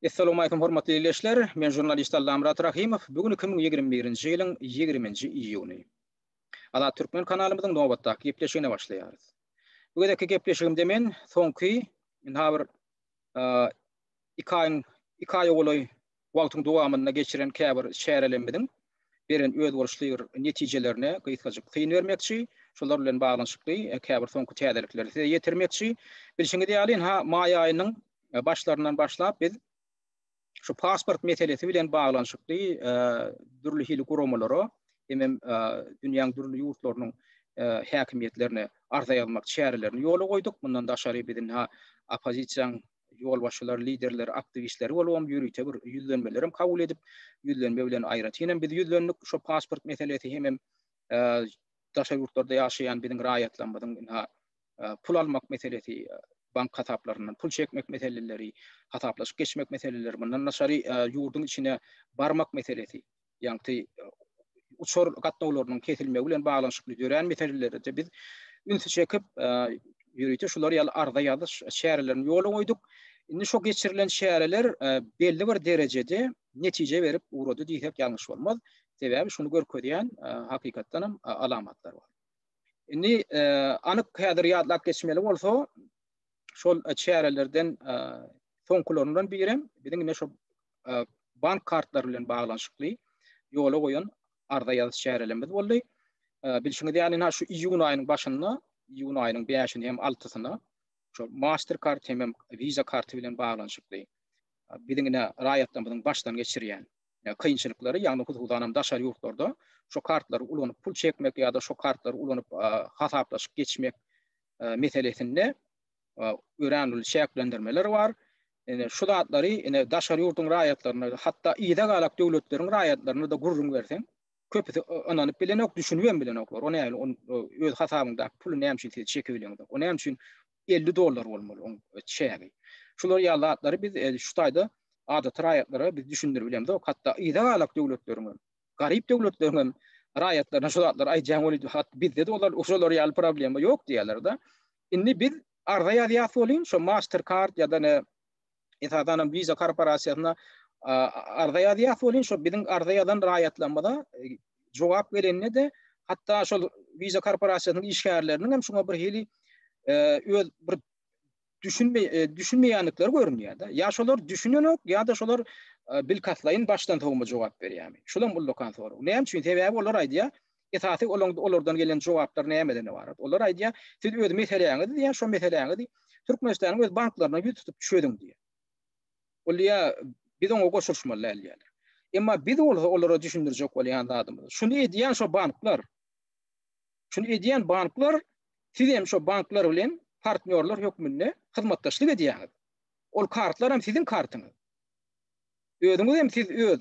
Essalamualeýkum hormatly ildeşler, men žurnalist Allamyrat Rahymow, bu gün iki müň ýigrimi birinji ýylyň ýigriminji iýuny. Azat Türkmen kanalymyzyň nobatdaky gepleşigine başlaýarys. Bu gezekki gepleşigimde men soňky, ynha bir iki aýyň, iki aýa golaý Wagtyň dowamynda geçiren käbir çärelerimiziň beren özboluşly bir netijelerine gysgajyk syn bermekçi, şolar bilen baglanyşykly käbir soňky täzelikleri size ýetirmekçi. Bilşiňiz ýaly, ynha, maý aýynyň başlaryndan başlap biz şu pasport meselesi bilen baglanyşykly dürli hili guramalara hemem dünýäň dürli ýurtlarynyň häkimiýetlerine arza ýazmak çärelerini ýola goýduk. Mundan daşary biz ynha oppozisiýanyň ýolbaşçylary, liderleri, aktiwistleri bolup hem ýörite bir ýüzlenmeler hem kabul edip, ýüzlenme bilen aýratyn hem biz ýüzlendik. Şo pasport meselesi hemem daşary ýurtlarda ýaşaýan biziň raýatlarymyzyň ynha pul almak meselesi, bank hasaplaryndan pul çekmek meseleleri, hasaplaşyk geçmek meseleleri, mundan daşary ýurduň içine barmak meselesi, ýagty uçar gatnawlarynyň kesilmegi bilen baglanyşykly dörän meselelerede biz ünsi çekip, ýörite şular ýaly arza ýazyş çärelerini ýola goýduk. Indi şu geçirilen çäreler belli bir derejede netije berip ugrady diýsek ýalňyş bolmaz. Sebäbi şuny görkezýän hakykatdan hem alamatlar bar. Indi anyk häzir ýatlap geçmeli bolsa, şol çärelerden soňkularyndan biri hem biziň ine şu bank kartlary bilen baglanyşykly ýola goýan arza ýazyş çärelerimiz boldy. Bilşiňiz ýaly ina şu iýun aýynyň başynda, iýun aýynyň 5-ine hem 6-syna şu Mastercard hem hem Visa karty bilen baglanyşykly biziň ine raýatlarymyzyň başdan geçirýän kynçylyklary, ýagny hususan hem daşary ýurtlarda şu kartlary ulanyp pul çekmek ýa-da şu kartlary ulanyp hasaplaşyk geçmek meselesinde örän uly çäklendirmeler bar. Ine şu zatlary ine daşary ýurduň raýatlaryna, hatda yza galak döwletleriň raýatlaryna da gürrüň berseň, köpüsi ynanyp bilenok, düşünip hem bilenoklar. O näme, on öz hasabyňdaky puly näme üçin siz çekip bileňiz? O näme üçin 50 dollar bolmaly oň çägi? Şular ýaly zatlary biz şu taýda adaty raýatlara biz düşündirip bilemizok, hatda yza galak döwletleriň garyp döwletleriň hem raýatlaryna şu zatlary aýdýan weli hat bizde-de olar şolar ýaly problema ýok diýýärler-de. Indi biz arza ýazýas welin şu Mastercard ýa-da ne esasan hem Visa korporasiýasyna arza ýazýas welin şu biziň arza ýazan raýatlarymyza e, jogap gelende de hatda şol Visa korporasiýasynyň işgärleriniň hem şuňa bir hili e, öz bir düşünme e, düşünmeýändikleri görünýär da. Ýa şolar düşünenok, ýa-da şolar e, bilkaslaýyn başdan sowma jogap berýärmi? Şulam ullakan sorag. Näme üçin? Sebäbi olar aýdýar, esasy olaryň olardan gelen jogaplar nämeden ibarat? Olar aýdýar, siz öz meseläňizi diýýär, şo meseläňizi Türkmenistanyň öz banklaryna ýüz tutup çözüň diýýär. Ol diýýär, biz oňa goşulyşmaly däl diýýärler. Emma biz bolsa olara düşündirjek bolýan zadymyz. Şuny edýän şo banklar. Şuny edýän banklar, siz hem şo banklar bilen partnýorlar hökmünde hyzmatdaşlyk edýäňiz. Ol kartlar hem siziň kartyňyz. Özüňiz hem siz öz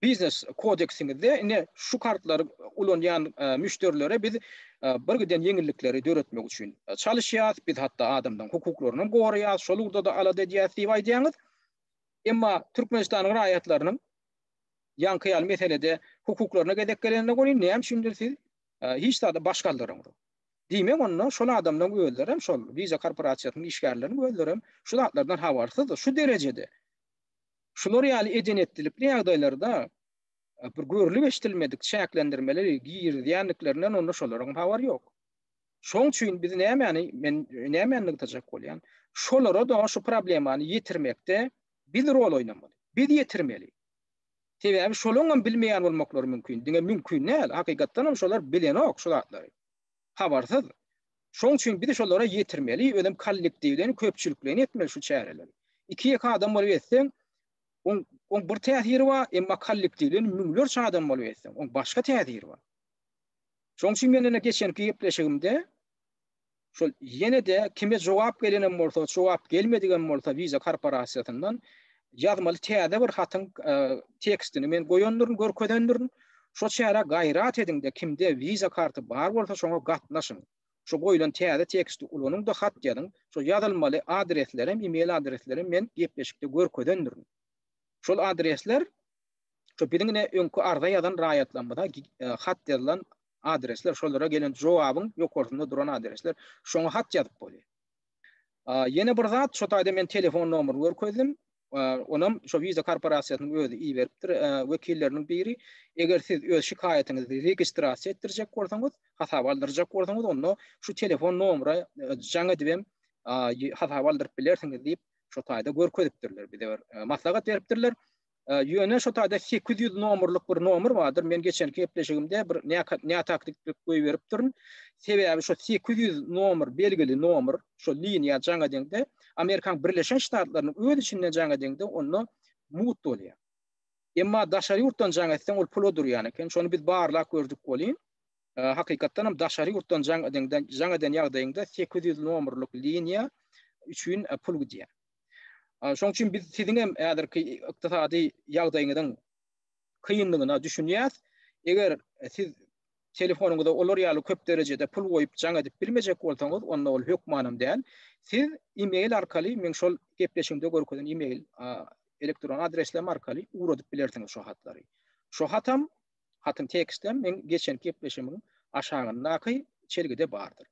biznes kodeksiňizde ine şu kartlary ulanýan e, müşderilere biz e, bir giden ýeňillikleri döretmek üçin e, çalyşýarys. Biz hatda adamlaryň hukuklaryny hem goraýarys. Şol ugurda da alada edýäris diýip aýdýaňyz. Emma Türkmenistanyň raýatlarynyň Ýaňky ýaly meselede hukuklaryna gezek gelende welin näme üçindir siz hiç zada baş galdyrmady. Diýmek onda şol adamlaryň özlerem şol Visa korporasiýasynyň işgärleriniň özlerem şu zatlardan habarsyzdyr. Şu derejede şular ýaly eden-etdilikli ýagdaýlarda bir görlüp-eşdilmedik çäklendirmeleri girizýändiklerinden onda şolaryňam habary ýok. Şoň üçin biz nämäni men nämäni nygtajak bolýan? Şolara-da şu problemany ýetirmekde Biz rol oýnamaly. Biz ýetirmeli. Sebäbi şolaňam bilmeýän bolmaklary mümkin. Diňe mümkin däl, hakykatdanam şolar bilenok şu zatlary. Habarsyz. Şoň üçin biz şolara ýetirmeli, özem kollektiwleýin, köpçülikleýin etmeli şu çäreleri. Iki-ýeke adam bolup etseň, oň oň bir täsiri bar, emma kollektiwleýin müňlerçe adam bolup etseň, oň başga täsiri bar. Şoň üçin men ine geçenki gepleşigimde şol ýene-de kime jogap gelenem bolsa, jogap gelmedigem bolsa Visa korporasiýasyndan ýazmaly täze bir hatyň tekstini men goýandyryn, görkezendürn. Şo çärä gaýrat ediň-de, kimde Visa karty bar bolsa, şoňa gatnaşyň. Şo goýlan täze teksti ulanyň-da, hat ýazyň. Şo ýazylmaly adreslerem, e-mail adreslerem men gepleşikde görkezendürn. Şol adresler, şo biziň ine öňki arza ýazan raýatlarymyza hat ýazylan adresler, şolara gelen jogabyň ýokarsynda duran adresler, şoňa hat ýazyp bolýar. Ýene bir zat, şo taýda men telefon nomerini görkezdim. Onam şo Visa korporasiýasynyň özi iberipdir, wekilleriniň biri. Eger siz öz şikaýatyňyzy registrasiýa etdirjek bolsaňyz, hasaba aldyrjak bolsaňyz, onda şu telefon nomera jaň edibem hasaba aldyryp bilersiňiz diýip, şo taýda görkezipdirler, bize bir maslahat beripdirler. Ýöne şo taýda sekiz ýüz nomerlik bir nomer bardyr. Men geçenki gepleşigimde bir nätaktiklik goýberipdirin. Sebäbi şo sekiz ýüz nomer belgili nomer, şo liniýa jaňa deňde, Amerikanyň Birleşen Ştatlarynyň öz içinde jaňa deňde, onda mut bolýar. Emma daşary ýurtdan jaň etseň, ol pula durýan eken. Şony biz barlap gördük welin, hakykatdan hem daşary ýurtdan jaň edende, jaň eden ýagdaýyňda sekiz ýüz nomerlik liniýa üçin pul gidýär. Şoň üçin biz siziň hem häzirki ykdysady ýagdaýyňyzyň kynlygyna düşünýäs. Eger siz telefonyňyza olar ýaly köp derejede pul goýup jaň edip bilmejek bolsaňyz, onda ol hökmanam däl. Siz e-mail arkaly, meň şol gepleşigimde görkezen e-mail elektron adresim arkaly ugradyp bilersiňiz şo hatlary. Şo hatam Hatyn tekstler meň geçenki gepleşimiň aşagyndaky çelgide bardyr.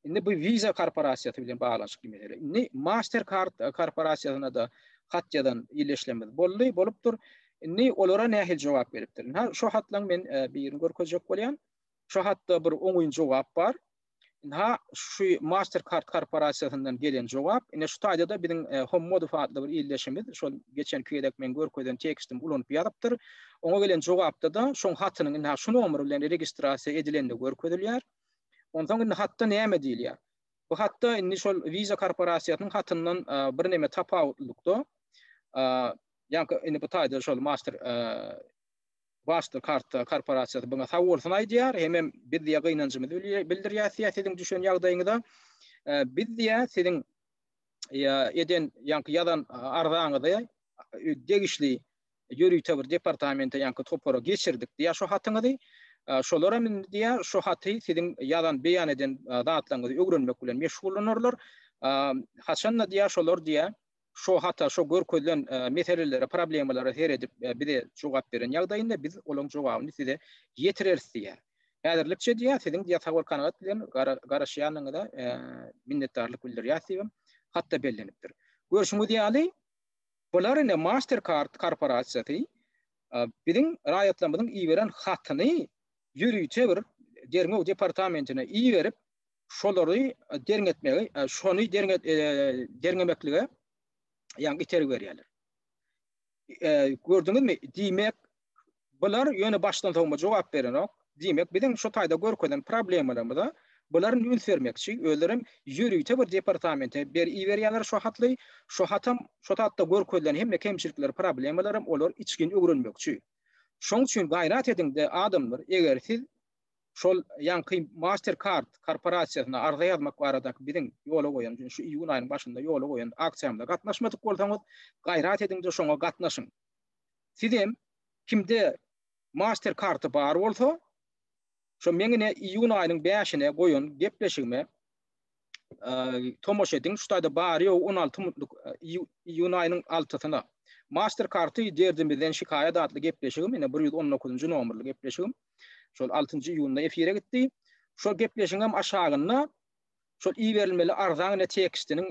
Indi bu Visa korporasiýasy bilen baglanyşykly mesele. Indi Mastercard korporasiýasyna da hat ýazan ýylyşlymyz boldy, bolupdyr. Indi olara nähili jogap beripdir? Ha, şu hatlaň men e, birini görkezjek bolýan. Şu hatda bir oňyn jogap bar. Ynha, şu Mastercard korporasiýasyndan gelen jogap. Ine, şu taýda-da biziň e, Hommodow adly bir ildeşimiz, şol geçenki gezek men görkezen tekstim ulanyp ýazypdyr. Oňa gelen jogapda-da şoň hatynyň indi şu nomer bilen registrasiýa edilende görkezilýär. Onsoň indi hatda näme diýilýär? Bu hatda indi şol Visa korporasiýasynyň hatyndan e, bir näme tapawutlylykda, e, ýa-da indi bu taýda şol Master Başda karta korporasiýasy buňa sag bolsun aýdýar, hemem biz diýýär gynanjymyzy bildirýäs diýýär siziň düşen ýagdaýyňyza. Biz diýýär siziň eden ýaňky ýazan arzaňyzy degişli ýörite bir departamente ýaňky topara geçirdik diýýär şu hatyňyzy. Şolar hem indi diýýär şu haty siziň ýazan beýan eden zatlaryňyzy öwrenmek bilen meşgullanarlar. Haçan-da diýýär şolar diýýär şo hata şo görkezilen meselelere, problemalara seredip bize jogap beren ýagdaýynda biz olaň jogabyny size ýetireris diýýär. Häzirlikçe diýýär, siziň diýýär sabow-kanagat bilen garaşýanyňyza minnetdarlyk bildirýäris diýibem hatda bellenipdir. Görşüňiz ýaly, bular ine Mastercard korporasiýasy biziň raýatlarymyzyň iberen hatyny ýörite bir derňew departamentine iberip, şolary derňe etmegi, şony derňe derňemeklige ýa itergi berýärler. Gördüňizmi? Diýmek, bular ýöne başdan sowma jogap berenok. Diýmek, biziň şu taýda görkezen problemalarymyza bular üns bermekçi, özleri hem ýörite bir departamente ber iberýärler şu hatly. Şu hatam, şu hatda görkezilen hemme kemçilikler, problemalar hem olar içgin öwrenmekçi. Şoň üçin gaýrat ediň-de, adamlar, eger siz şol ýaňky Mastercard korporasiýasyna arza ýazmak baradaky biziň ýola goýan, şu iýun aýynyň başynda ýola goýan aksiýamyza gatnaşmadyk bolsaňyz, gaýrat ediň-de şoňa gatnaşyň. Sizem kimde Mastercard-y bar bolsa, şo meň ine iýun aýynyň bäşine goýan gepleşigime tomaş ediň, şu taýda bary ýogy 16 minutlyk iýun aýynyň altysyna. Master karty derdimizden şikaýat atly gepleşigim, ýene 119-njy nomerli gepleşigim. Şol 6-njy iýunda efire gitdi. Şol gepleşigiň hem aşagynda şol iberilmeli arzanyň tekstiniň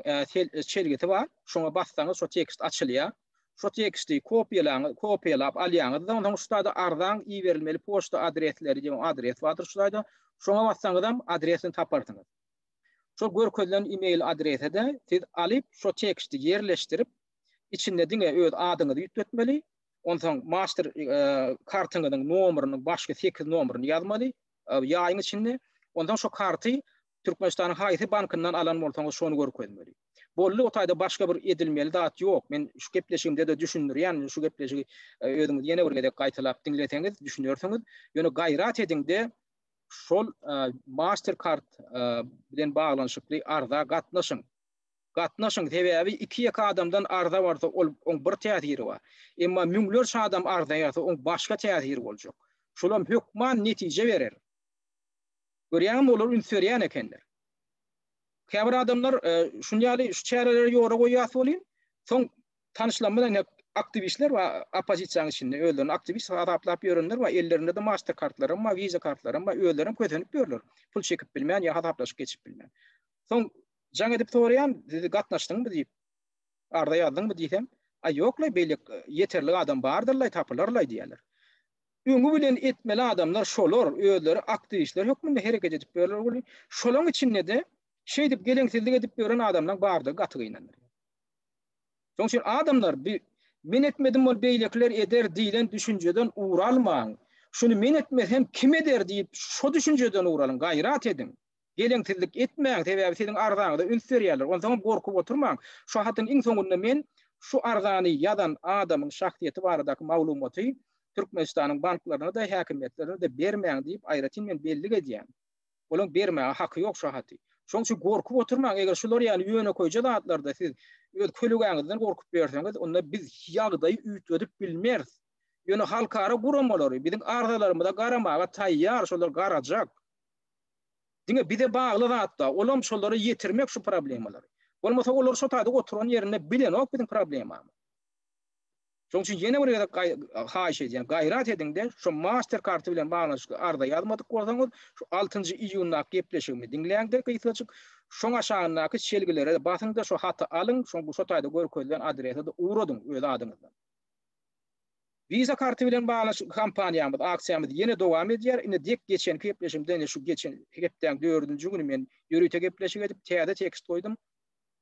çelgisi bar. Şoňa bassaňyz şo tekst açylýar. Şu teksti kopiýalaň, kopiýalap alýaňyzda, onsoň şu taýda arzaň iberilmeli poçta adresleri diýen adres bardyr şu taýda. Şoňa bassaňyzam adresini taparsyňyz. Şol görkezilen e-mail adrese-de siz alyp, şu teksti ýerleşdirip, içinde diňe öz adyňyzy üýtgetmeli, onsoň master kartyňyzyň nomerynyň başky sekiz nomeryny ýazmaly ýaýyň içinde, onsoň şu karty Türkmenistanyň haýsy bankyndan alan bolsaňyz şony görkezmeli. Boldy o taýda başga bir edilmeli zat ýok. Men şu gepleşigimde-de düşündirýän, şu gepleşigi özüňiz ýene bir gezek gaýtalap diňleseňiz düşünersiňiz. Ýöne gaýrat ediňde şol master kart bilen baglanyşykly arza gatnaşyň. Gatnaşyň sebäbi iki ýeke adamdan arza barsa ol oň bir täsiri bar. Emma müňlerçe adam arza ýazsa oň başga täsiri boljak. Şolam hökman netije berer. Görýäňmi, olar üns berýän ekenler. Käbir adamlar şuny ýaly şu çäreleri ýola goýýas welin, soň tanyşlan bilen hep aktiwistler we oppozisiýanyň içinde özlerini aktiwist hasaplap ýörenler we ellerinde-de master kartlaram bar, wiza kartlaram bar, özlerem kösenip ýörler, pul çekip bilmän ýa hasaplaşyk geçip bilmän. Soň jaň edip soraýan, siz gatnaşdyňmy diýip, arza ýazdyňmy diýsem, aý ýoklaý beýlek ýeterlik adam bardyr-laý, tapylar-laý diýýärler. Öňi bilen etmeli adamlar şolar, özleri aktiwistler hökmünde hereket edip ýörler weli, şolaň içinde-de şeýdip geleňsizlik edip ýören adamlaň bardygy gaty gynandyrýar. Şoň üçin adamlar bi men etmedim ol beýlekiler eder diýlen düşünjeden ugur almaň. Şuny men etmesem kim eder diýip şo düşünjeden ugur alyň, gaýrat ediň. Geleňsizlik etmäň, sebäbi siziň arzaňyza üns berýärler. Onsoňam gorkup oturmaň. Şu hatyň iň soňunda men şu arzany ýazan adamyň şahsyýeti baradaky maglumaty Türkmenistanyň banklaryna-da, häkimiýetlerine-de bermäň diýip aýratyn men bellik edýän. Olaň bermäge haky ýok şu haty. Şonuň üçin gorkup oturmaň. Eger şular ýaly ýönekeýje zatlarda siz öz kölegaňyzdan gorkup berseňiz, onda biz ýagdaýy üýtgedip bilmeris. Ýöne halkara guramalary biziň arzalarymyza garamaga taýýar, şolar garajak. Diňe bize bagly zatda, olam şolara ýetirmek şu problemalary. Bolmasa olar şo taýda oturan ýerinde bilenok biziň problemamy. Şoň üçin ýene bir gezek haýyş edýän, gaýrat ediňde şo master karty bilen baglanyşykly arza ýazmadyk bolsaňyz, şu altynjy iýundaky gepleşigimi diňläňde gysgajyk, şoň aşagyndaky çelgilere basyňda şo haty alyň, şoň bu şo taýda görkezilen adrese-de ugradyň öz adyňyzdan. Visa karty bilen baglaşykly kampaniýamyz, aksiýamyz ýene dowam edýär. Indi dek geçen gepleşigimde, ine şu geçen hepdäň dördünji güni men ýörite gepleşik edip, täze tekst goýdum.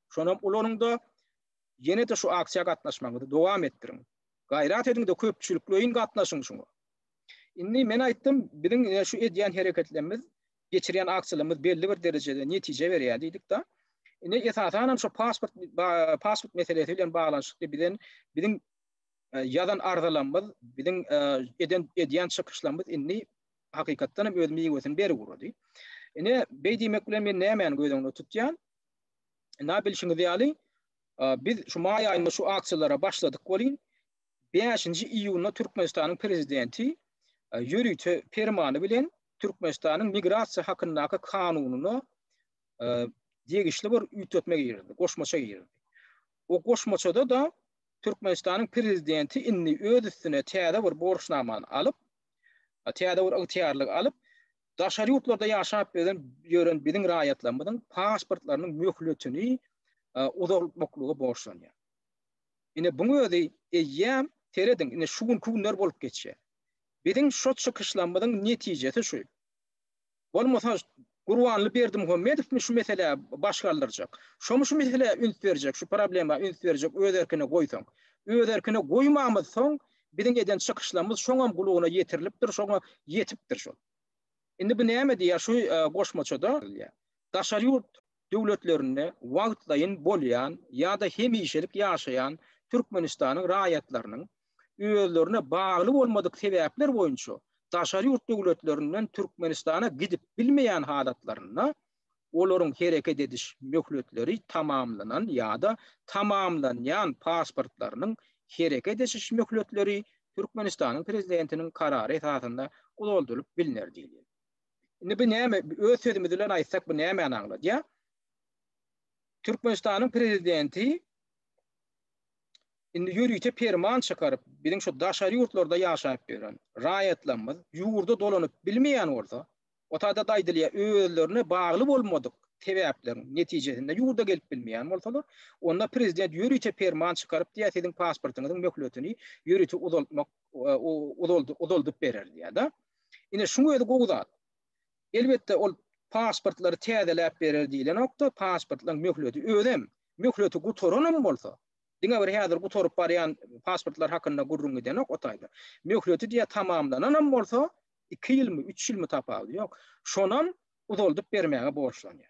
Şonam ulanyň-da, ýene-de şu aksiýa gatnaşmagyňyzy dowam etdiriň. Gaýrat ediň-de, köpçülikleýin gatnaşyň şuňa. Indi men aýtdym, biziň ine şu edýän hereketlerimiz, geçirýän aksiýalarymyz belli bir derejede netije berýär diýdik-de. Indi esasanam şu pasport, pasport meselesi bilen baglanyşykly bizden, biziň, Ýazan arzalarymyz, biziň eden edýän çykyşlarymyz indi hakykatdan hem öz miwesini berip ugrady. Ine, beý diýmek bilen men nämäni göz öňünde tutýan? Ina bilşiňiz ýaly, biz şu maý aýynda şu aksiýalara başladyk welin, bäşinji iýunda Türkmenistanyň Prezidenti ýörite permany bilen Türkmenistanyň Migrasiýa hakyndaky kanunyna degişli bir üýtgetme girdi, goşmaça girdi. O goşmaçada-da Türkmenistanyň Prezidenti indi öz üstüne täze bir borçnamany alyp, täze bir ygtyýarlygy alyp, daşary ýurtlarda ýaşap ýören biziň raýatlarymyzyň pasportlarynyň möhletini uzaltmaklyga borçlanýar. Ine, buň özi eýýäm, serediň, ine, şu günki günler bolup geçýär. Biziň şu çykyşlarymyzyň netijesi şu. Bolmasa Gurbanly Berdimuhamedowmy şu meselä baş galdyrjak? Şomy şu meselä üns berjek, şu problema üns berjek öz erkine goýsaň? Öz erkine goýmamyz soň biziň eden çykyşlarymyz şoňam gulaguna ýetirilipdir, şoňa ýetipdir şol. Indi bu näme diýýär şu goşmaçada? Daşary ýurt döwletlerinde wagtlaýyn bolýan ýa-da hemişelik ýaşaýan Türkmenistanyň raýatlarynyň özlerine bagly bolmadyk sebäpler boýunça daşary ýurt döwletlerinden Türkmenistana gidip bilmeýän halatlarynda olaryň hereket ediş möhletleri tamamlanan ýa-da tamamlanýan pasportlarynyň hereket ediş möhletleri Türkmenistanyň Prezidentiniň karary esasynda uzaldylyp bilner diýilýär. Indi bu näme öz sözümiz bilen aýtsak bu nämäni aňladýar? Türkmenistanyň prezidenti indi ýörite perman çykaryp, biziň şu daşary ýurtlarda ýaşap ýören raýatlarymyz ýurda dolanyp bilmeýän bolsa, o taýda aýdylýar, özlerine bagly bolmadyk sebäpleriň netijesinde ýurda gelip bilmeýän bolsalar, onda prezident ýörite perman çykaryp diýýär, siziň pasportyňyzyň möhletini ýörite uzaltmak uzaldyp berer diýýär-de. Ine şuň özi gowy zat. Elbetde ol pasportlary täzeläp berer diýlenokda, pasportlaryň möhleti özem, möhleti gutaranam bolsa, diňe bir häzir gutaryp barýan pasportlar hakynda gürrüň gidenok o taýda. Möhleti diýe tamamlananam bolsa, iki ýylmy, üç ýylmy tapawudy ýok. Şonam uzaldyp bermäge borçlanýar.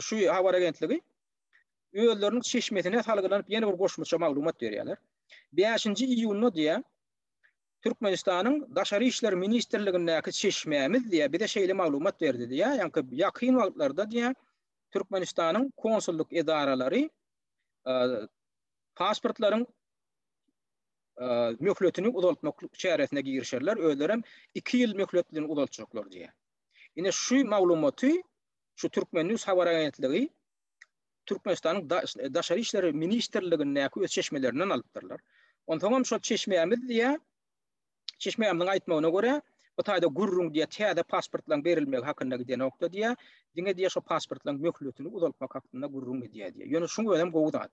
şu habar agentligi özleriniň çeşmesine salgylanyp ýene bir goşmaça maglumat berýärler. 5-nji iýunda diýýär, Türkmenistanyň Daşary işler ministrligindäki çeşmämiz diýýär, bize şeýle maglumat berdi diýýär. Ýa-da ýakyn wagtlarda diýýär, Türkmenistanyň konsullyk edaralary e, pasportlaryň e, möhletini uzaltmak çäresine girişerler, özlerem 2 ýyl möhletini uzaltjaklar diýýär. Ine şu maglumaty şu Türkmen news habar agentligi Türkmenistanyň Daşary işler ministrligindäki öz çeşmelerinden alypdyrlar. Onsoňam şol çeşmämiz diýýär, çeşmämiziň aýtmagyna görä, bu taýda gürrüň diýýär, täze pasportlaryň berilmegi hakynda gidenokda diýýär, diňe diýýär şo pasportlaryň möhletini uzaltmak hakynda gürrüň gidýär diýýär. Ýöne şuň özem gowy zat.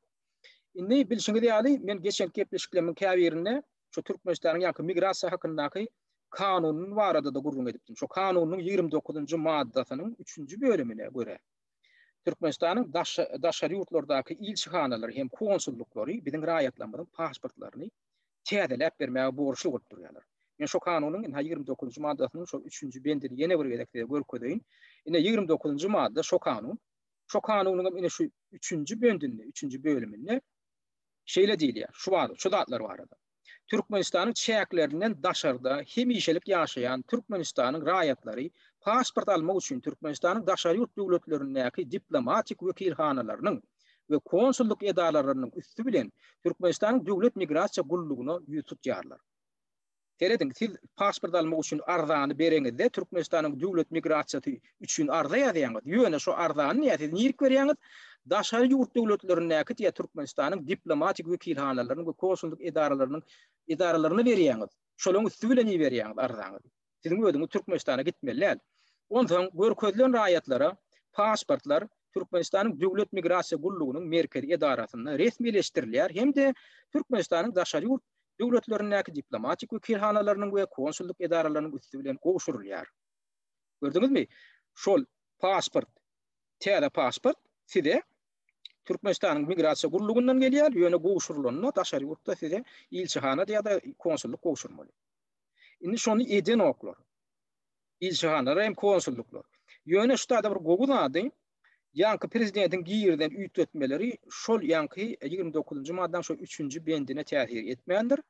Indi bilşiňiz ýaly, men geçenki gepleşiklerimiň käbirinde şu Türkmenistanyň ýaňky migrasiýa hakyndaky kanunyny barada-da gürrüň edipdim. Şu kanunyň ýigrimi dokuzynjy maddasynyň üçünji bölümine görä, Türkmenistanyň daşary ýurtlardaky ilçihanalary hem konsullyklary biziň raýatlarymyzyň pasportlaryny täzeläp bermäge borçly bolup durýarlar. Men şu kanunyň indi ýigrimi dokuzynjy maddasynyň şol üçünji bendini ýene bir gezek size görkezeýin. Ine ýigrimi dokuzynjy madda şu kanun. Şo kanunyň hem ine şu üçünji böndünde, üçünji bölüminde şeýle diýilýär, şu bar, şu zatlar barada. Türkmenistanyň çäklerinden daşarda hemişelik ýaşaýan Türkmenistanyň raýatlary pasport almak üçin Türkmenistanyň daşary ýurt döwletlerindäki diplomatik wekilhanalarynyň we konsullyk edaralarynyň üsti bilen Türkmenistanyň Döwlet migrasiýa gullugyna ýüz tutýarlar. Serediň, siz pasport almak üçin arzany bereňizde, Türkmenistanyň Döwlet migrasiýasy üçin arza ýazýaňyz. Ýöne şo arzany diýä siz nirik berýäňiz? Daşary ýurt döwletlerindäki diýä Türkmenistanyň diplomatik wekilhanalarynyň we konsullyk edaralarynyň edaralaryna berýäňiz. Şolaryň üsti bilen iberýäňiz arzaňyzy. Siziň özüňiz Türkmenistana gitmeli däl. Onsoň görkezilen raýatlara pasportlar Türkmenistanyň Döwlet migrasiýa gullugynyň merkezi edarasynda resmileşdirilýär hem-de Türkmenistanyň daşary ýurt döwletlerindäki diplomatik wekilhanalarynyň we konsullyk edaralarynyň üsti bilen gowşurylýar. Gördüňizmi, şol pasport, täze pasport size Türkmenistanyň Migrasiýa gullugyndan gelýär, ýöne gowşurylanda daşary ýurtda size ilçihanada ýa-da konsullyk gowşurmaly. Indi şony edenoklar. Ilçihanalar hem konsullyklar. Ýöne şu taýda bir gowy zady, Ýaňky prezidentiň girizen üýtgetmeleri şol ýaňky ýigrimi dokuzynjy maddanyň şol üçünji bendine täsir etmändir.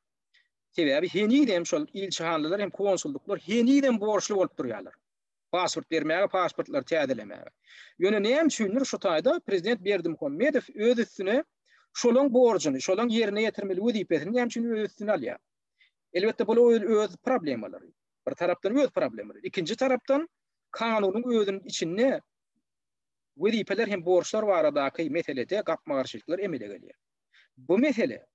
Sebäbi henizem şol ilçihanlylar hem konsulluklar henizem borçly bolup durýarlar. Pasport bermäge, pasportlary täzelemäge. Ýöne näme üçindir şu taýda prezident Berdimuhamedow öz üstüne şolaň borjuny, şolaň ýerine ýetirmeli wezipesini näme üçin öz üstüne alýar? Elbetde bu öz problemalary. Bir tarapdan öz problemalary. Ikinji tarapdan kanunyň özüniň içinde wezipeler hem borçlar baradaky meselede gapma-garşylyklar emele gelýär. Bu mesele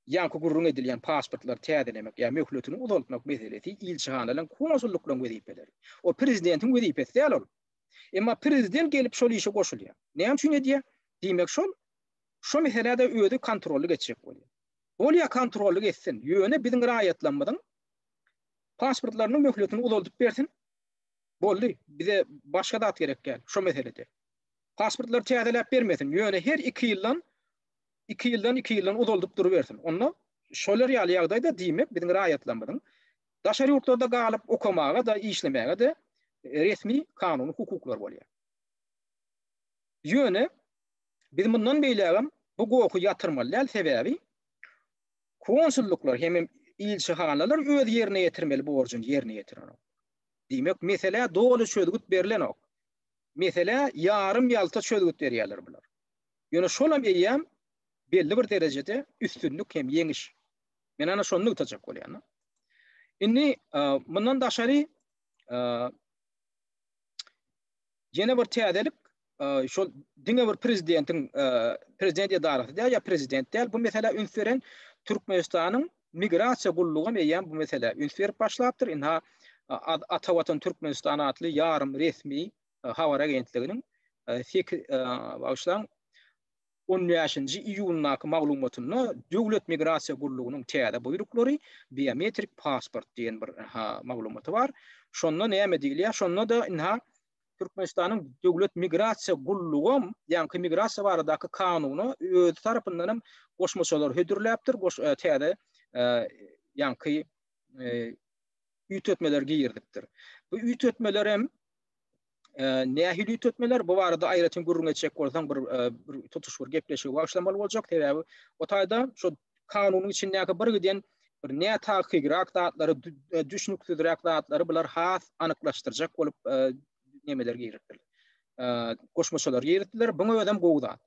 ýaňky gürrüň edilýän pasportlary täzelemek ýa möhletini uzaltmak meselesi ilçihanalaryň, konsullyklaryň wezipeleri. O prezidentiň wezipesi däl ol. Emma prezident gelip şol işe goşulýar. Näme üçin edýär? Diýmek şol şu meselede özi kontrollyk etjek bolýar. Bolýar kontrollyk etsin, ýöne biziň raýatlarymyzyň pasportlarynyň möhletini uzaldyp bersin, Boldy, bize başga zat gerek däl şo meselede. Pasportlary täzeläp bermesin, ýöne her iki ýyldan, iki ýyldan, iki ýyldan uzaldyp durubersin. Onda şolar ýaly ýagdaýda diýmek biziň raýatlarymyzyň daşary ýurtlarda galyp okamaga-da, işlemäge-de resmi kanuny hukuklary bolýar. Ýöne biz mundan beýlägem bu gohy ýatyrmaly däl, sebäbi Konsullyklar hemem ilçihanalar öz ýerine ýetirmeli borjuny ýerine ýetirenok. Diýmek, meselä doly çözgüt berlenok. Meselä ýarym-ýalta çözgüt berýärler bular. Ýöne şolam eýýäm belli bir derejede üstünlik hem ýeňiş. Men ana şony nygtajak bolýan. Indi mundan daşary Ýene bir täzelik, şol diňe bir prezidentiň prezident edarasy däl ýa prezident däl bu meselä üns beren Türkmenistanyň migrasiýa gullugy hem eýýäm bu meselä üns berip başlapdyr. Ynha, Ata Watan Türkmenistan atly ýarym resmi habar agentliginiň, bagyşlaň, On bäşinji iýundaky maglumatynda Döwlet migrasiýa gullugynyň täze buýruklary, biometrik pasport diýen bir maglumaty bar. Şonda näme diýilýär? Şonda-da ynha Türkmenistanyň Döwlet migrasiýa gullugam ýaňky migrasiýa baradaky kanuna özi tarapyndan hem goşmaçalar hödürläpdir, täze ýaňky üýtgetmeler girizipdir. Bu üýtgetmeler hem Nähili üýtgetmeler? Bu barada aýratyn gürrüň etjek bolsaň, bir bir tutuş bir gepleşigi başlamaly boljak. Sebäbi o taýda şu kanunyň içindäki bir giden bir nätakykrak zatlary, düşnüksizräk zatlary bular has anyklaşdyrjak bolup nemeler giripdir. Goşmaçalar giripdiler. Buňa özem gowy zat.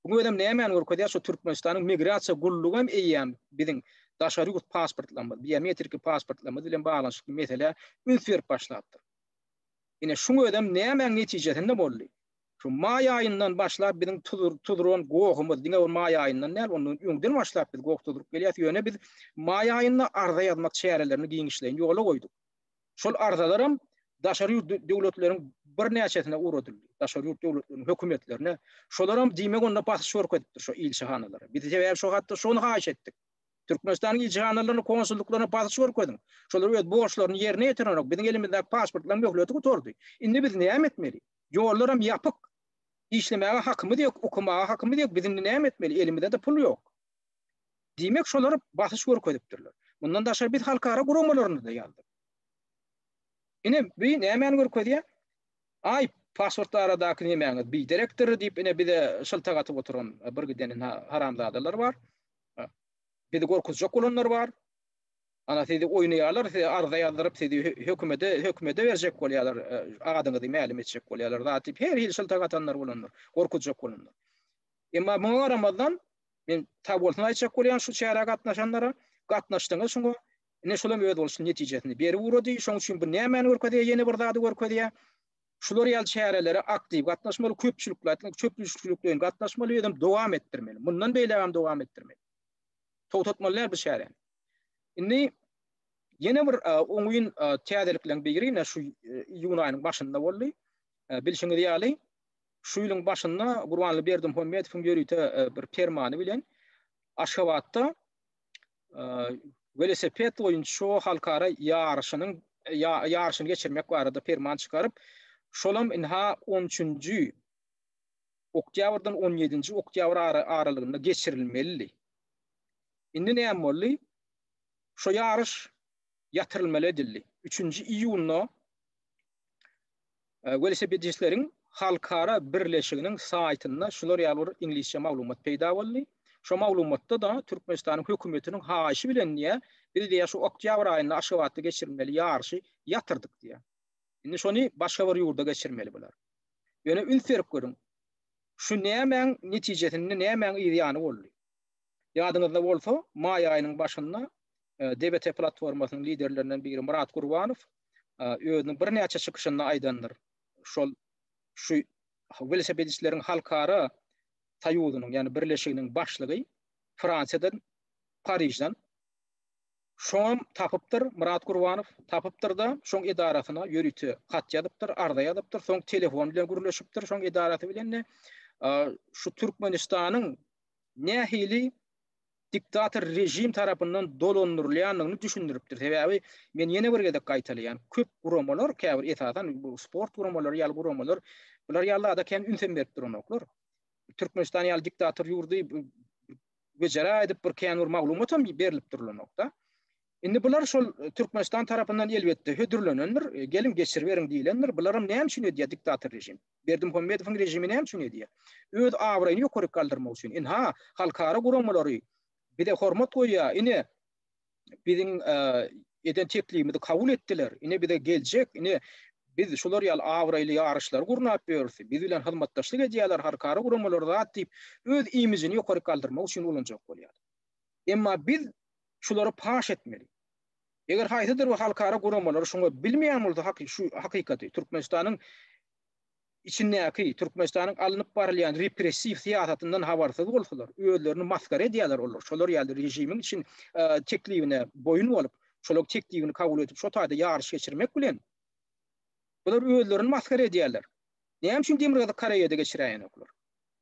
Buňa özem nämäni görkezýär? Şu Türkmenistanyň migrasiýa gullugy hem eýýäm biziň daşary ýurt pasportlarymyz, biometriki pasportlarymyz bilen baglanyşykly meselä üns berip başlapdyr. Ine, şuň özem nämäň netijesinde boldy? Şu maý aýyndan başlap biziň tuzran gohumyz, diňe ol maý aýyndan däl, ondan öňden başlap biz goh tuzrup gelýäs, ýöne biz maý aýynda arza ýazmak çärelerini giňişleýin ýola goýduk. Şol arzalaram daşary ýurt döwletleriň birnäçesine ugradyldy, daşary ýurt döwletleriniň hökümetlerine. Şolaram diýmek onda basyş görkezipdir şo ilçihanalara. Biz sebäbi şo hatda şony haýyş etdik. Türkmenistanyň ilçihanalaryna, konsullyklaryna basyş görkeziň. Şolar öz borçlaryny ýerine ýetirenok. Biziň elimizdäki pasportlaryň möhleti gutardy. Indi biz näme etmeli? Ýollaram ýapyk. Işlemäge hakymyz ýok, okamaga hakymyz ýok. Biz indi näme etmeli? Elimizde-de pul ýok. Diýmek, şolar basyş görkezipdirler. Mundan daşary biz halkara guramalaryna-da ýazdyk. Ine, bu nämäni görkezýär? Aý, pasport baradaky nämäňiz biderekdir diýip, ine bize şyltak atyp oturan bir giden haramzadalar bar. Bizi gorkuzjak bolanlar bar. Ana sizi oýnaýarlar, size arza ýazdyryp, sizi hökümede, hökümede berjek bolýarlar, adyňyzy mälim etjek bolýarlar. Zat diýip her hili şyltak atanlar bolandyr, gorkuzjak bolandyr. Emma muňa garamazdan, men sag bolsun aýtjak bolýan şu çärä gatnaşanlara, gatnaşdyňyz şuňa. Ine şulam öz bolşuny netijesini berip ugrady. Şoň üçin bu nämäni görkezýär? Ýene bir zady görkezýär. şular ýaly çärelere aktiw gatnaşmaly, köpçülikli aýtganda köpdüşlikleýin gatnaşmaly we özem dowam etdirmeli. Mundan beýlägem dowam etdirmeli. Togtatmaly däl bu çäräni. Indi ýene bir oňyn täzelikleriň biri ine şu iýun aýynyň başynda boldy. Bilşiňiz ýaly, şu ýylyň başynda Gurbanly Berdimuhamedowyň ýörite bir permany bilen Aşgabatda welosiped boýunça halkara ýaryşynyň ýaryşyny geçirmek barada perman çykaryp, şolam ynha 13-nji oktýabrdan 17-nji oktýabr aralygynda geçirilmelidi. Indi näme boldy? Şo ýaryş ýatyrylmaly edildi. 3-nji iýunda Welosipedistleriň halkara birleşiginiň saýtynda şular ýaly bir iňlisçe maglumat peýda boldy. Şo maglumatda-da Türkmenistanyň hökümetiniň haýyşy bilen diýýär, biz diýýär şu oktýabr aýynda Aşgabatda geçirilmeli ýaryşy ýatyrdyk diýýär. Indi şony başga bir ýurda geçirmeli bular. Ýöne üns berip görüň, şu nämäň netijesinde, nämäň yz ýany boldy? Ýadyňyzda bolsa, maý aýynyň başynda DBT platformasynyň liderlerinden biri Myrat Gurbanow özüniň birnäçe çykyşynda aýdandyr. Şol şu welosipedistleriň halkara soýuzynyň, ýagny birleşiginiň başlygy Fransiýadan, Parižden Şoňam tapypdyr Myrat Gurbanow, tapypdyr-da, şoň edarasyna ýörite hat ýazypdyr, arza ýazypdyr, soň telefon bilen gürleşipdir, şoň edarasy bilen-de şu Türkmenistanyň nähili diktator režim tarapyndan dolandyrylýandygyny düşündiripdir. Sebäbi men ýene bir gezek gaýtalaýan, köp guramalar, käbir esasan bu sport guramalary ýaly guramalar bular ýaly zada kän ünsem berip duranoklar. Türkmenistan ýaly diktator ýurdy wejera edip bir kän bir maglumat hem berilip durulanokda. Indi bular şol e, Türkmenistan tarapyndan elbetde hödürlenendir, e, gelin geçirip beriň diýilendir. Bular hem näme üçin edýär diktator režim? Berdimuhamedowyň režimi näme üçin edýär? Öz abraýyny ýokaryk galdyrmak üçin. Ynha, halkara guramalary bize hormat goýýar, ine, biziň eden teklibimizi kabul etdiler, ine bize geljek, ine biz şular ýaly abraýly ýaryşlary gurnap ýörüs, biz bilen hyzmatdaşlyk edýärler, halkara guramalary zat diýip, öz imijini ýokaryk galdyrmak üçin ulanjak bolýar. Emma biz şulary paş etmeli. Eger haýsydyr bir halkara guramalary şuňa bilmeýän bolsa haky şu hakykaty Türkmenistanyň içindäki Türkmenistanyň alnyp barylýan repressiw syýasatyndan habarsyz bolsalar özlerini masgara edýärler olar şolar ýaly režimiň için teklibine boýun bolup şolaň teklibini kabul edip şo taýda ýaryş geçirmek bilen bular özlerini masgara edýärler näme üçin Demirgazyk Koreýada geçiräýenoklar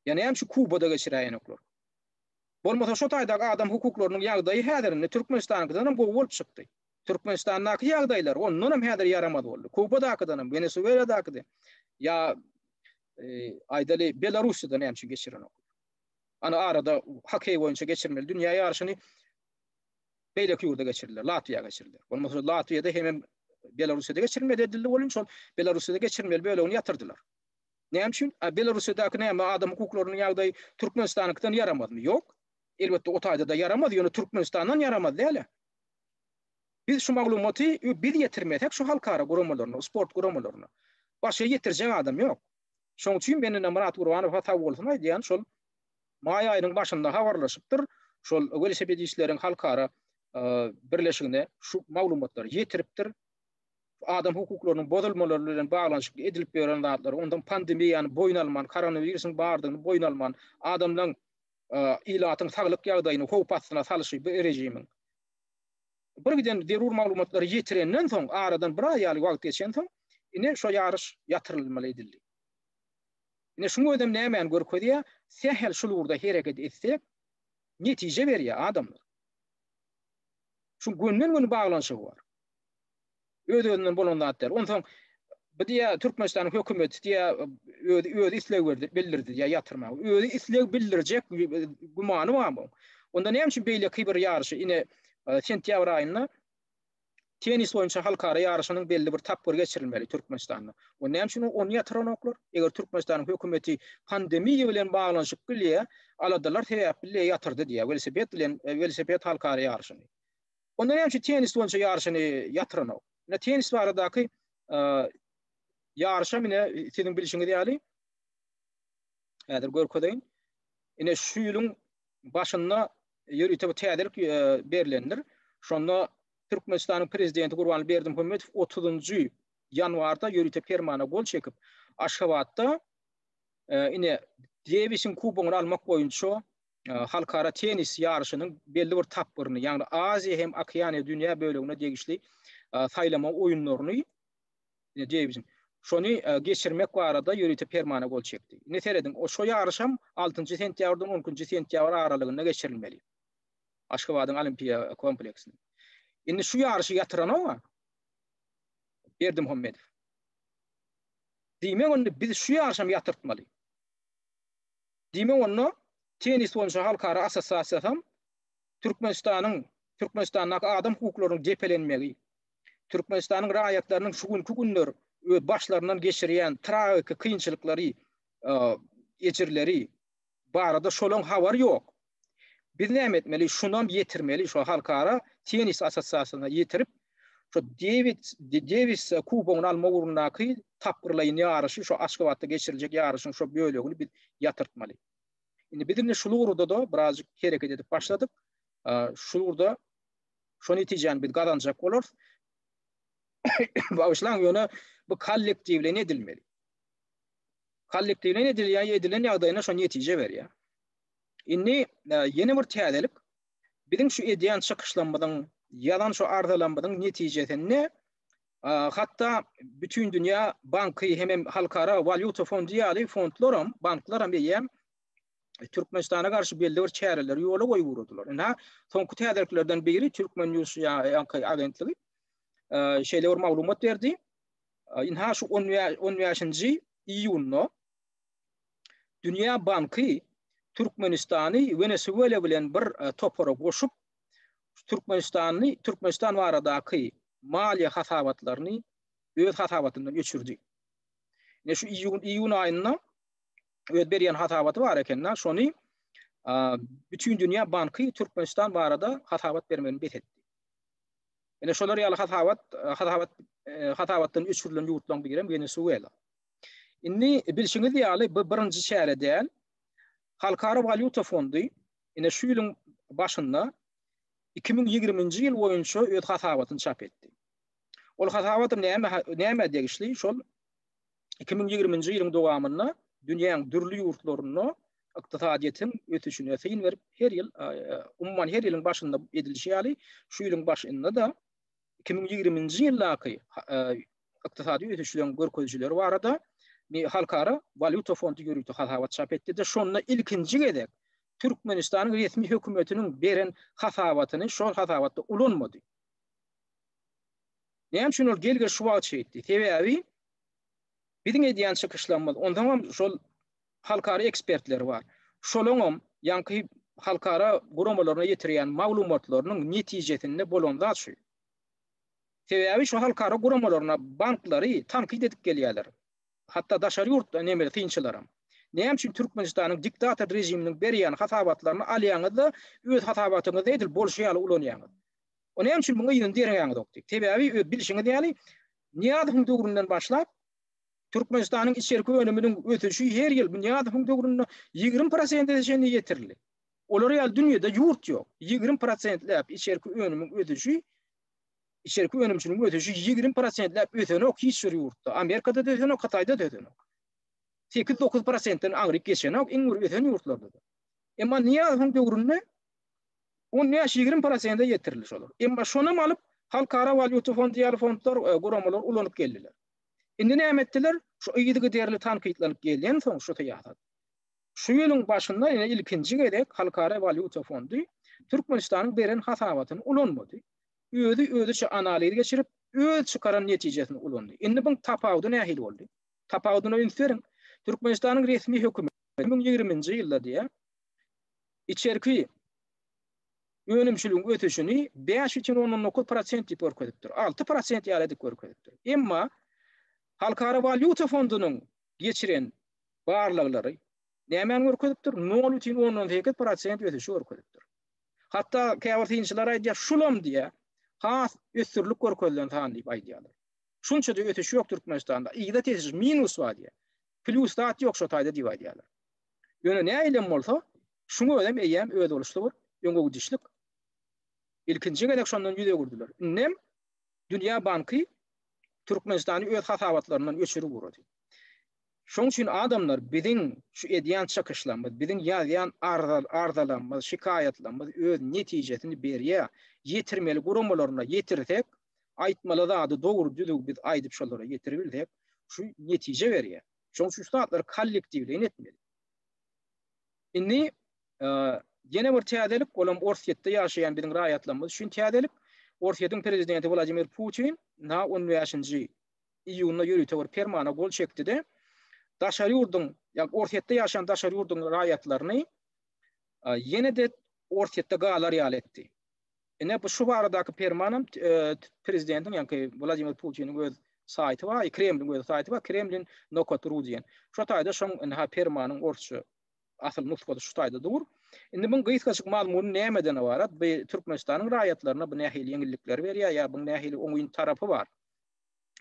ýa näme üçin Kubada geçiräýenoklar Bolmasa şo taýdaky adam hukuklarynyň ýagdaýy häzirinde Türkmenistanyňkydanam gowy bolup çykdy. Türkmenistandaky ýagdaýlar ondanam häzir ýaramaz boldy. Kubadakydanam, Wenesueladakyda ýa aýdaly Belarussiýada näme üçin geçirenok. Ana arada hokkeý boýunça geçirmeli dünýä ýaryşyny beýleki ýurda geçirdiler, Latwiýa geçirdiler. Bolmasa Latwiýada hemem Belarussiýada geçirmeli edildi, ol üçin Belarussiýada geçirmeli bölegini ýatyrdylar. Näme üçin? A Belorussiýadaky näme adam hukuklarynyň ýagdaýy Türkmenistanyňkydan ýaramazmy? Ýok. Elbetde o taýda-da ýaramaz, ýöne Türkmenistandan ýaramaz däl-ä. Biz şu maglumaty biz ýetirmesek şu halkara guramalaryna, sport guramalaryna, başga ýetirjek adam ýok. Şoň üçin men indi Myrat Gurbanowa sagbolsun aýdýan şol maý aýynyň başynda habarlaşypdyr, şol welosipedistleriň halkara birleşigine şu maglumatlary ýetiripdir. adam hukuklarynyň bozulmalary bilen baglanyşykly edilip ýören zatlary, ondan pandemiýany boýun alman, koronawirusyň bardygyny boýun alman, adamlaryň, e, ilatyň saglyk ýagdaýyny howp astyna salşy bu režimiň. Bir giden zerur maglumatlary ýetirenden soň, aradan bir aý ýaly wagt geçen soň, ine şu ýaryş ýatyrylmaly edildi. Ine şuň özem nämäni görkezýär? Sähel şul ugurda hereket etsek, netije berýär adamlar. Şu gönden-göni baglanyşygy bar. Öz-özünden bolan zat däl. Onsoň bu diýä Türkmenistanyň hökümeti diýä özi özi isleg berdi, bildirdi diýä ýatyrmagy. Özi isleg bildirjek gümany barmy? Onda näme üçin beýleki bir ýaryşy ine e, sentýabr aýynda tennis boýunça halkara ýaryşynyň belli bir tapgyry geçirilmeli Türkmenistanda. O näme üçin ony ýatyranoklar? Eger Türkmenistanyň hökümeti pandemiýa bilen baglanyşyk bilýär, aladalar sebäpli ýatyrdy diýär. Welosiped bilen e, welosiped halkara ýaryşyny. Onda näme üçin tennis boýunça ýaryşyny ýatyranok? Ine tennis baradaky ýaryşam ine siziň bilşiňiz ýaly häzir görkezeýin. Ine şu ýylyň başynda ýörite bu täzelik berlendir. Şonda Türkmenistanyň prezidenti Gurbanly Berdimuhamedow 30-njy ýanwarda ýörite permana gol çekip, Aşgabatda ine Dewisiň kubogyny almak boýunça halkara tennis ýaryşynyň belli bir tapgyryny, ýagny Aziýa hem Okeaniýa dünýä bölegine degişli saýlama oýunlaryny diýibizin. Şony geçirmek barada ýörite permana gol çekdi. Indi serediň, şo ýaryş hem 6-njy sentýabrdan 12-nji sentýabr aralygynda geçirilmeli. Aşgabadyň Olimpiýa kompleksinde. Indi şu ýaryşy ýatyran oňa Berdimuhamedow. Diýmek, indi biz şu ýaryşam ýatyrtmaly. Diýmek onda Tennis boýunça halkara assosiasiýasam Türkmenistanyň, Türkmenistandaky adam hukuklarynyň depelenmegi, Türkmenistanyň raýatlarynyň şu günki günler öz başlaryndan geçirýän tragiki kynçylyklary, ejirleri barada şolaň habar ýok. Biz näme etmeli? Şunam ýetirmeli, şu halkara tennis assosiasiýasyna ýetirip, şu Dewid Dewis kubogyny alma ugrundaky tapgyrlaýyn ýaryşy, şu Aşgabatda geçiriljek ýaryşyň şu bölegini biz ýatyrtmaly. Indi biz indi şul ugurda-da birazjyk hereket edip başladyk. Şul ugurda şu netijäni biz gazanjak bolarys. Bagyşlaň, ýöne bu kollektiwleýin edilmeli. Kollektiwleýin edilýär, edilen ýagdaýynda şu netije berýär. Indi ýene bir täzelik. Biziň şu edýän çykyşlarymyzyň, ýazan şu arzalarymyzyň netijesinde hatda bütin dünýä banky hem halkara walýuta fondy ýaly fondlar hem, banklar hem eýýäm Türkmenistana garşy belli bir çäreleri ýola goýup ugradylar. Indi soňky täzeliklerden biri Türkmen News ýaňky agentligi şeýle bir maglumat berdi. Indi şu 15-nji iýunda Dünýä banky Türkmenistany Wenesuela bilen bir topara goşup, Türkmenistany Türkmenistan baradaky maliýe hasabatlaryny öz hasabatyndan öçürdi. Ne şu iýun iýun aýynda öz berýän hasabaty bar ekende, şony bütün dünýä banky Türkmenistan barada hasabat bermegini bes etdi. Ene şolar ýaly hasabat hasabat hasabatdan öçürilen ýurtlaryň biri hem Wenesuela. Indi bilşiňiz ýaly, bu birinji çäre däl. Halkara walýuta fondy ine şu ýylyň başynda iki müň ýigriminji ýyl boýunça öz hasabatyny çap etdi. Ol hasabat näme näme degişli? Şol iki müň ýigriminji ýylyň dowamynda dünýäň dürli ýurtlarynda ykdysadyýetiň ösüşine syn berip, her ýyl umuman her ýylyň başynda edilişi ýaly, şu ýylyň başynda-da iki müň ýigriminji ýyldaky ykdysady ösüşleriň görkezijileri barada Halkara walýuta fondy ýörite hasabat çap etdi-de, şonda ilkinji gezek Türkmenistanyň resmi hökümetiniň beren hasabatyny şol hasabatda ulanmady. Näme üçin ol gelge şu wagt şeýtdi? Sebäbi biziň edýän çykyşlarymyz, ondan hem şol halkara ekspertleri bar. Şolaryň hem ýaňky halkara guramalaryna ýetirýän maglumatlarynyň netijesinde bolan zat şu. Sebäbi şu halkara guramalaryna banklary tankyt edip gelýärler. Hatda daşary ýurtly nemes synçylaram. Näme üçin Türkmenistanyň diktator režiminiň berýän hasabatlaryny alýaňyz-da, öz hasabatyňyzda edil bolşy ýaly ulanýaňyz? O näme üçin muňa yzyny derňäňizok diýip. Sebäbi öz bilşiňiz ýaly, Nyýazowyň döwründen başlap, Türkmenistanyň içerki önüminiň ösüşi her ýyl bu Nyýazowyň döwründe ýigrimi prosente çenli ýetirildi. Olar ýaly dünýede ýurt ýok. Ýigrimi prosentläp içerki önümiň ösüşi, içerki önümçiligiň ösüşi ýigrimi prosentläp ösenok hiç bir ýurtda. Amerikada-da ösenok, Hytaýda-da ösenok. Sekiz-dokuz prosentden aňryk geçenok iň bir ösen ýurtlarda-da. Emma Nyýazowyň döwründe on bäş-ýigrimi prosente ýetirildi şolar. Emma şonam alyp, Halkara walýuta fondy ýaly fondlar, guramalar ulanyp geldiler. Indi näme etdiler? Şu yzygiderli tankytlanyp gelýänsoň şu syýasat, Şu ýylyň başynda ýene ilkinji gezek Halkara walýuta fondy Türkmenistanyň beren hasabatyny ulanmady. Özi özüçe analiz geçirip, öz çykaran netijesini ulandy. Indi buň tapawudy nähili boldy? Tapawudyna üns beriň. Türkmenistanyň resmi hökümeti iki müň ýigriminji ýylda diýýär, içerki önümçiligiň ösüşini bäş bütin ondan dokuz prosent diýip görkezipdir, alty prosent ýaly edip görkezipdir. Emma Halkara walýuta fondunyň geçiren barlaglary nämäni görkezipdir? Nol bütin ondan sekiz prosent ösüşi görkezipdir. Hatda käbir synçylar aýdýar, şulam diýýär, has ösdürilip görkezilen san diýip aýdýarlar. Şunça-da ösüş ýok Türkmenistanda, yza tesir, minus bar diýýär. Plýus zat ýok şo taýda diýip aýdýarlar. Ýöne nähilem bolsa, şuň özem eýýäm özboluşly bir öňegidişlik. Ilkinji gezek şondan ýüz öwürdiler. Indem Dünýä banky Türkmenistany öz hasabatlaryndan öçürip ugrady. Şoň üçin adamlar biziň şu edýän çykyşlarymyz, biziň ýazýan arzalarymyz, şikaýatlarymyz öz netijesini berýär. Ýetirmeli guramalaryna ýetirsek, aýtmaly zady dogry-düzüw biz aýdyp şolara ýetiribilsek, şu netije berýär. Şoň üçin şu zatlary kollektiwleýin etmeli. Indi ýene bir täzelik, ol hem Orsýetde ýaşaýan biziň raýatlarymyz üçin täzelik. Orsýetiň prezidenti Wladimir Putin na on bäşinji iýunda ýörite bir permana gol çekdi-de, daşary ýurduň, ýagny Orsýetde ýaşaýan daşary ýurduň raýatlaryny ýene-de Orsýetde galar ýaly etdi. Ine, bu şu baradaky perman hem prezidentiň, ýagny Wladimir Putiniň öz saýty bar, Kremliň öz saýty bar, Kremlin nokat ru diýen. Şo taýda şoň indi ha permanyň orsça asyl nusgasy şu taýda dur. Indi muň gysgaçyk mazmuny nämeden ybarat? Bu Türkmenistanyň raýatlaryna bu nähili ýeňillikleri berýär ýa bu nähili oňyn tarapy bar?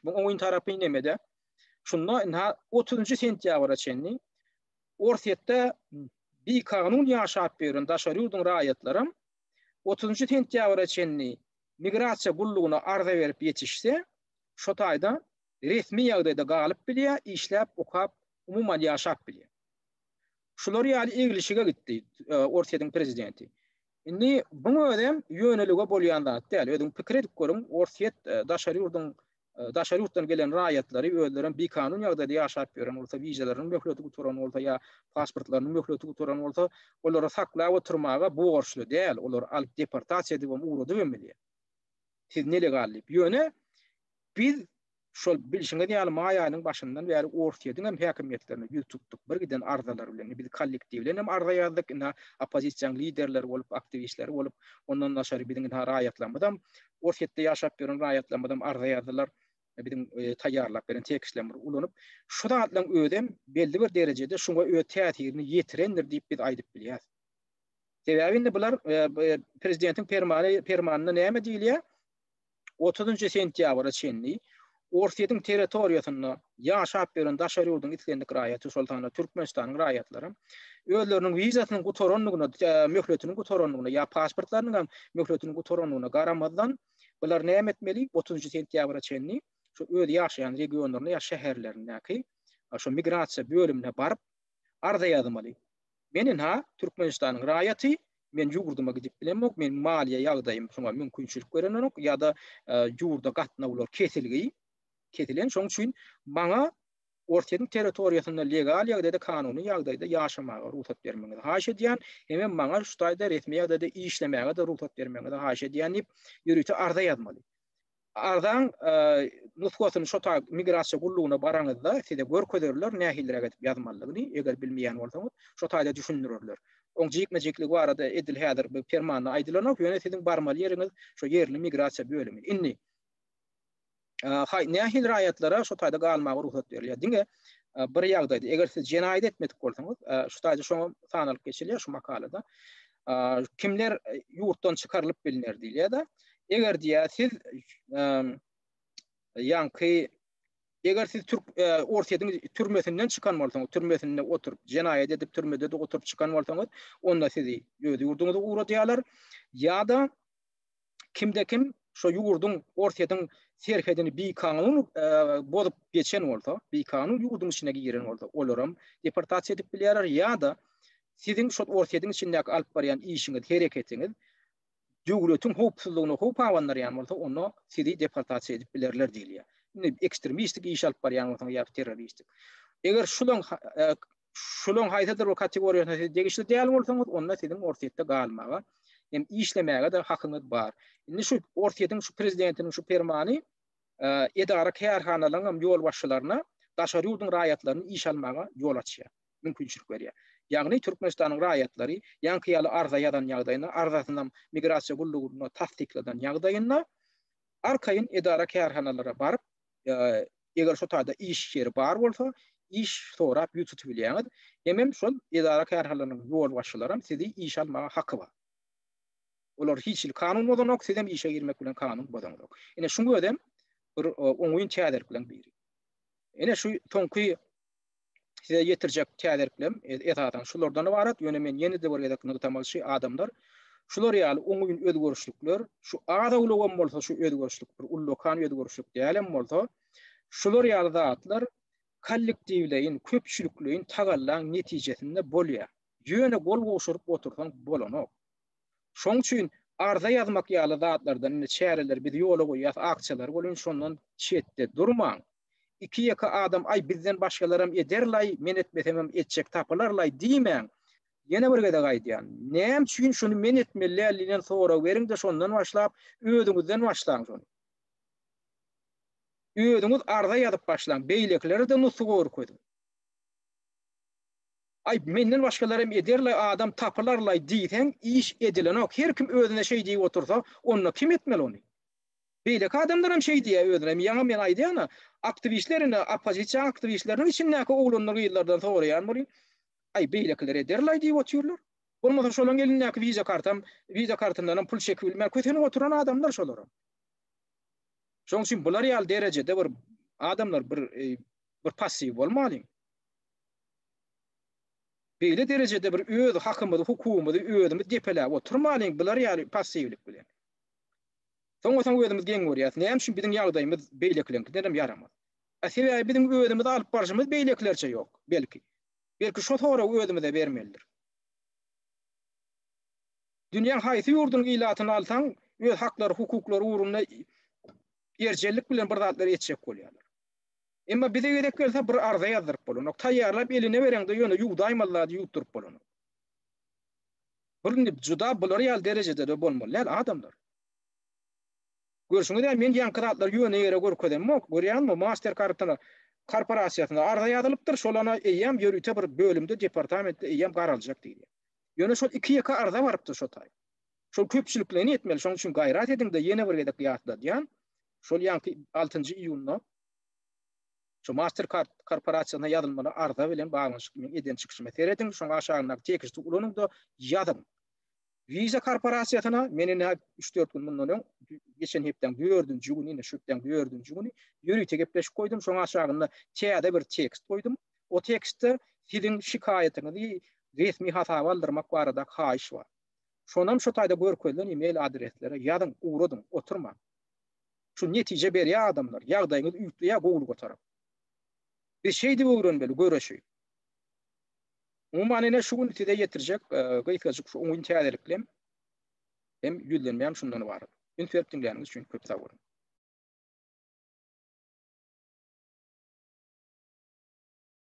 Bu oýun tarapy nemede? Şunda ina 30-njy sentýabra çenli Orsýetde bikanun ýaşap ýören daşary ýurduň raýatlary 30-njy sentýabra çenli migrasiýa gullugyna arza berip ýetişse, şo taýda resmi ýagdaýda galyp bilýär, işläp, okap, umuman ýaşap bilýär. Şular ýaly eglişige gitdi Orsýetiň prezidenti. Indi buň özem ýönelige bolýan zat däl. Özüň pikir edip görüň, Orsýet e, daşary ýurduň e, daşary ýurtdan gelen raýatlary özlerem bikanun ýagdaýda ýaşap ýören bolsa, wizalarynyň möhleti gutaran bolsa ýa pasportlarynyň möhleti gutaran bolsa, olary saklap oturmaga borçly däl. Olary alyp deportasiýa edibem, ugradyp hem bilýär. Siz nelegal diýip. Ýöne biz Şol bilşiňiz ýaly maý aýynyň başyndan bäri Orsýetiň hem häkimiýetlerine ýüz tutduk. Bir giden arzalar bilen. Indi biz kollektiwleýin hem arza ýazdyk. Ynha oppozisiýaň liderleri bolup, aktiwistleri bolup, ondan daşary biziň ynha raýatlarymyzam, Orsýetde ýaşap ýören raýatlarymyzam arza ýazdylar. Biziň taýýarlap beren tekstlerimizi ulanyp. Şu zatlaryň özem belli bir derejede şuňa öz täsirini ýetirendir diýip biz aýdyp bilýäris. Sebäbi indi bular prezidentiň permany, permanyna näme diýilýär? otuzynjy sentýabra çenli Orsýetiň territoriýasynda ýaşap ýören daşary ýurduň islendik raýaty, şol sanda Türkmenistanyň raýatlary özleriniň wizasynyň gutarandygyna, möhletiniň gutarandygyna ýa pasportlarynyň hem möhletiniň gutarandygyna garamazdan, bular näme etmeli? Otuzynjy sentýabra çenli şu öz ýaşaýan regionlaryna ýa şäherlerindäki şu migrasiýa bölümine baryp, arza ýazmaly. Men ynha, Türkmenistanyň raýaty, men ýurduma gidip bilemok, meniň maliýe ýagdaýym şuňa mümkinçilik berenok ýa-da ýurda gatnawlar kesilgi, kesilen, şonuň üçin maňa Orsýetiň territoriýasynda legal ýagdaýda, kanuny ýagdaýda ýaşamaga rugsat bermegiňizi haýyş edýän, hemem maňa şu taýda resmi ýagdaýda işlemäge-de rugsat bermegiňizi haýyş edýän diýip, ýörite arza ýazmaly. Arzaň nusgasyny şota migrasiýa gullugyna baraňyzda size görkezerler nähiliräk edip ýazmalydygyny, eger bilmeýän bolsaňyz şo taýda düşündirerler. Oň jikme-jikligi barada edil häzir bu permanda aýdylanok, ýöne siziň barmaly ýeriňiz şo ýerli migrasiýa bölümi. Indi haý nähili raýatlara şo taýda galmaga rugsat berilýär? Diňe bir ýagdaýda, eger siz jenaýat etmedik bolsaňyz, şu taýda şoňa sanalyp geçilýär şu makalada. kimler ýurtdan çykarylyp bilner diýilýär-de. Eger diýýär siz ýaňky eger siz türk Orsýetiň türmesinden çykan bolsaňyz, türmesinde oturyp, jenaýat edip türmede oturyp çykan bolsaňyz, onda sizi öz ýurduňyza ugradýarlar. Ýa-da kimde-kim şo ýurduň, Orsýetiň serhedini bikanun bozup geçen bolsa, bikanun ýurduň içine giren bolsa, olar hem deportasiýa edip bilýärler ýa-da siziň şo Orsýetiň içindäki alyp barýan işiňiz, hereketiňiz döwletiň howpsuzlygyna howp abandyrýan bolsa, onda sizi deportasiýa edip bilerler diýilýär. Indi ekstremistik iş alyp barýan bolsaňyz ýa-da terroristik. Eger şulan şolaryň haýsydyr bir kategoriýasyna siz degişli däl bolsaňyz, onda siziň Orsýetde galmaga hem işlemäge-de hakyňyz bar. Indi şu Orsýetiň şu prezidentiniň şu permany edara-kärhanalaryň hem ýolbaşçylaryna daşary ýurduň raýatlaryny işe almaga ýol açýar, mümkinçilik berýär. Ýagny Türkmenistanyň raýatlary ýaňky ýaly arza ýazan ýagdaýynda, arzasyny hem migrasiýa gullugynda tassykladan ýagdaýynda arkaýyn edara-kärhanalara baryp, eger şo taýda iş ýeri bar bolsa, iş sorap ýüz tutup bilýäňiz. Hemem şol edara-kärhanalaryň ýolbaşçylaram sizi işe almaga haky bar. Olar hiç hili kanun bozanok, sizem işe girmek bilen kanun bozaňzok. Ine şuň özem bir oňyn täzelik bilen biri. Ine şu soňky size ýetirjek täzeliklerim esasan şulardan ybarat, ýöne men ýene-de bir gezek nygtamalyçy adamlar, şular ýaly oňyn özgerişlikler, şu az awlagam bolsa şu özgerişlik bir ullakan özgerişlik dälem bolsa, şular ýaly zatlar kollektiwleýin, köpçülikleýin tagallaň netijesinde bolýar. Ýöne gol gowşuryp otursaň bolanok. Şoň üçin arza ýazmak ýaly zatlardan, indi çäreleri biz ýola goýýas, akçalary bolýan, şondan çetde durmaň. Iki-ýeke adam aý bizden başgalaram ederlaý, men etmesemem etjek tapylarlaý diýmäň. Ýene bir gezek aýdýan, näme üçin şuny men etmeli däldiýen sorag beriňde şondan başlap özüňizden başlaň şony. Özüňiz arza ýazyp başlaň, beýlekilerede nusga görkeziň. Aý menden başgalaram ederlaý, adam tapylarlaý diýseň iş edilenok. Her kim özüne şeý diýip otursa, onda kim etmeli ony? Beýleki adamlaram şeý diýýä özüne ýaňa men aýdýana aktiwistler indi oppozisiýa aktiwistleriniň içindäki oglanlar gyzlardan soraýan bolýa aý beýlekiler ederlaý diýip otyrlar bolmasa şolaň elindäki wiza kartam wiza kartyndanam pul çekip bilmän kösenip oturan adamlar şolaram şoň üçin bular ýaly derejede bir adamlar bir bir passiw bolmalyň beýle derejede bir öz hakymyzy hukugymyzy özümiz depeläp oturmalyň bular ýaly passiwlik bilen. Soňa-soň özümiz geň görýäris. Näme üçin biziň ýagdaýymyz beýlekilerňkidenem ýaramaz? A sebäbi biziň özümizi alyp barşymyz beýlekilerçe ýok, belki. Belki şo soragy özümize bermelidir. Dünýäň haýsy ýurdunyň ilatyny alsaň, öz haklary, hukuklary ugrunda erjellik bilen bir zatlar etjek bolýarlar. Emma bize gezek gelse bir arza ýazdyryp bolanok. Taýýarlap eline bereňde ýöne ýuwdaýmaly zady ýuwduryp bolanok. Bir indi juda bular ýaly derejede-de bolmaly däl adamlar. Görşüňiz-ä, men ýaňky zatlary ýöne ýere görkezemok. Görýäňizmi, Master Kartony korporasiýasyna arza ýazylypdyr, şol ana eýýäm ýörite bir bölümde, departamentde eýýäm garaljak diýilýär. Ýöne şol iki-ýeke arza barypdyr şo taýy. Şol köpçülikleýin etmeli, şonuň üçin gaýrat ediň-de, ýene bir gezek ýatladýan, şol ýaňky altynjy iýunda şo Master Kart korporasiýasyna ýazylmaly arza bilen baglanyşykly meň eden çykyşymy serediň, şoň aşagyndaky teksti ulanyň-da, ýazyň. Visa korporasiýasyna men indi üç-dört gün mundan öň geçen hepdäň dördünji güni, indi şu hepdäň dördünji güni ýörite gepleşik goýdum, şoň aşagynda täze bir tekst goýdum. O tekstde siziň şikaýatyňyzy resmi hasaba aldyrmak barada haýyş bar. Şonam şu taýda görkezilen e-mail adreslere ýazyň, ugradyň, oturmaň. Şu netije berýär adamlar, ýagdaýyňyz üýtleýär gowulyga tarap. Biz şeýdip öwrenmeli göreşi. Umuman ine şu gün size ýetirjek gysgajyk şu oňyn täzeliklerim hem ýüzlenmäm şundan ybarat. Üns berip diňläniňiz üçin köp sag boluň.